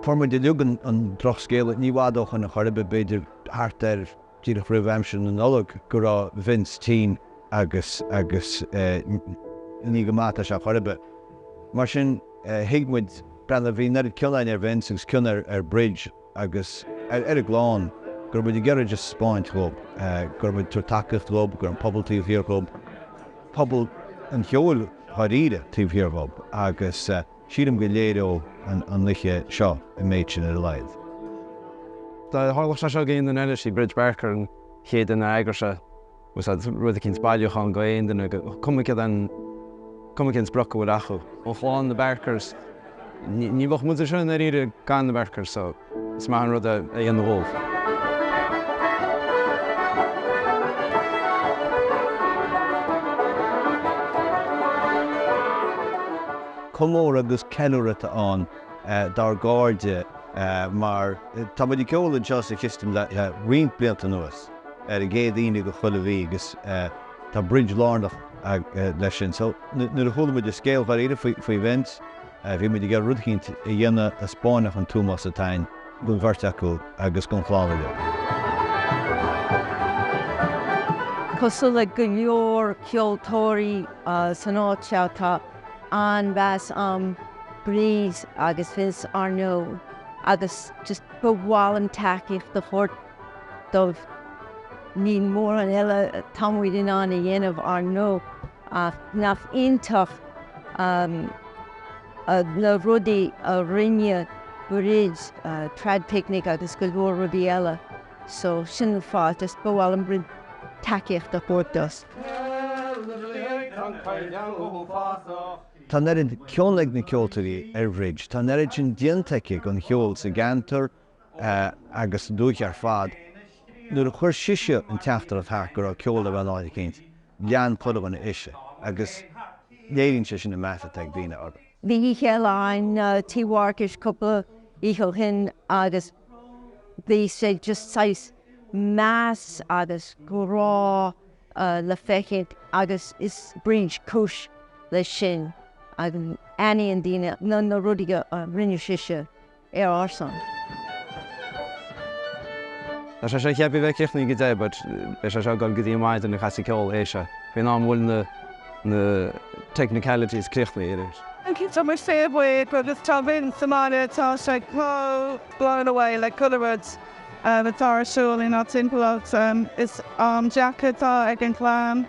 Fuair muid uilig an drochscéala ní i bhfad ó shoin chor ar bith, b'fhéidir thart ar, díreach roimh aimsir na Nollag, go raibh Vince tinn agus ní go maith atá sé chor ar bith. Mar sin, thuig muid, bhí an oiread cion againn ar Vince agus cion ar Bridge, agus ar a gclann, go raibh muid ag iarraidh just a thaispeáint dhóib go raibh muid ag tabhairt tacaíocht dhóib, go raibh an pobal taobh thiar dhóib, pobal an cheoil dháiríre taobh thiar dhóib agus sílim go léireoidh an oiche seo an méid sin ar a laghad. Dá dtarlódh sé seo go aon duine eile, 'sí Bridge Barker an chéad duine a d'eagródh suas rud eicínt, bailiúchán go aon duine, cuma cén sprioc a bhfuil acu. Ó chlann na Barkers, ní bheadh muid anseo i ndáiríre gan na Barkers so is maith an rud é a dhéanamh dhóibh. Comóradh agus ceiliúradh atá ann dár gcairde mar tá muid ag ceol anseo sa Chistin le roinnt blianta anuas. ar an gcéad Aoine de chuile mhí agus tá Bridge lárnach leis sin. So, nuair a chuala muid an scéal dháiríre faoi Vince, bhí muid ag iarraidh rud eicínt a dhéanamh a 'spáinfeadh an t-ómós atá againn don bheirt acu agus don chlann uilig. Cosúil le go leor ceoltóirí san áit seo, tá an-mheas a'm ar Bridge agus Vince ar ndóigh agus just ba mhaith liom tacaíocht a thabhairt. dóibh. Níl mórán eile atá muid in ann a dhéanamh, ar ndóigh, ach nach iontach na rudaí a rinne Bridge, Traidphicnic agus go leor rudaí eile. So, sin an fáth, just ba mhaith liom roinnt tacaíochta a thabhairt dóibh. Tá an oiread cion ag na ceoltóirí ar Bhridge, tá an oiread sin déanta aici don cheol sa gceantar, agus an dúiche ar fad. Nuair a chuir sise an teachtaireacht thart go raibh ceol le bheith in áit eicínt, lean chuile dhuine ise, agus léiríonn sé sin an meas atá ag daoine orthu. Bhí oíche eile ann Tí Mharcais cúpla oíche ó shin agus bhí sé just saghas meas agus grá le feiscint agus is Bridge cúis leis sin agus aithníonn daoine na rudaí a rinne sise. ar ár son. Tá sé seo ceaptha a bheith críochnaithe ag a deich but beidh sé seo ag dul go dtí maidin ag casadh ceoil I'd say. Faoin am a bhfuil na na technicalities críochnaithe arís. Tá muid fíorbhuíoch agus tá Vince sa mbaile tá sé chomh blown away le chuile rud atá ar siúl inár dtimpeallacht. Is am deacair atá ag an gclann.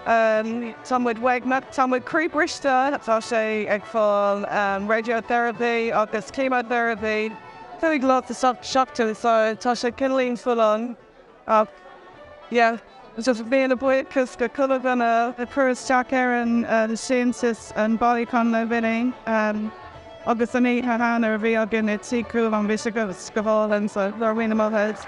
Tá muid uaigneach, tá muid croíbhriste, tá sé ag fáil radiotherapy agus chemotherapy cúig lá sa seachtain so tá sé cineáilín full on ach yeah just míle buíochas do chuile dhuine a chuir isteach ar an síntiús, an bailiúchán le Vinny agus an oíche cheana a bhí againn i Tigh Chualáin bhí sé go hálainn so go raibh míle maith agat.